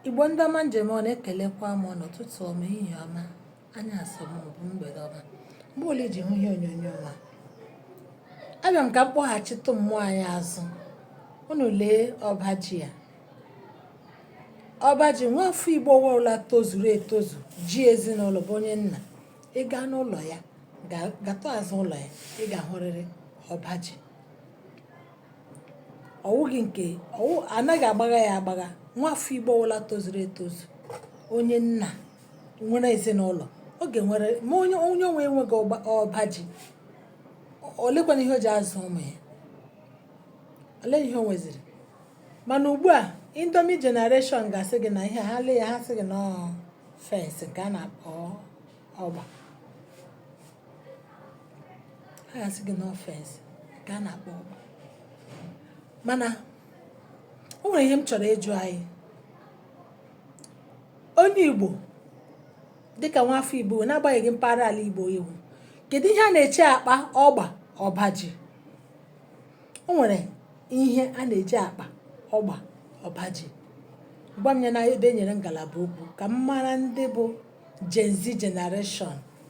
Igbo ndị ọma m ji eme ọnụ ekelekwa m unu ụtụtụ ọma ehihie ọma anyasị ọma maọbụ mgbede ọma mgbe ọbụla i ji hụ ihe onyonyo m a abịa m ka m kpọghachitụ mmụọ anyị azụ unu lee ọba ji a ọba ji nwafọ igbo ọbụla tozuru etozu ji ezinụlọ bụ onye nna ị gaa n'ụlọ ya gatọ azụ ụlọ ya ị ga-ahụrịrị ọba ji ọ wụghị nke ọ wụ anaghị agbagha ya agbagha nwafọ igbo ọwụla tozuru etozu onye nna nwere ezinụlọ ọ ga-enwere ma onye onye onwe enweghị ọba ọba ji o- olekwanụ ihe o ji azụ ụmụ ya ole ihe o nweziri mana ugbu a indomi generation ga-asị gị na ihe ha lee ya ha sị gị na ọ fence nke a na-akpọ ọgba ha ga-asị gị na ọ fence ka a na-akpọ ọgba mana o nwere ihe m chọrọ ịjụ anyị onye igbo dịka nwa afọ igbo n'agbanyeghị mpaghara ala igbo ị wụ kedu ihe a na-eji akpa ọgba ọba ji o nwere ihe a na-eji akpa ọgba ọba ji gwa m ya na ebe e nyere ngalaba okwu ka m mara ndị bụ Gen Z generation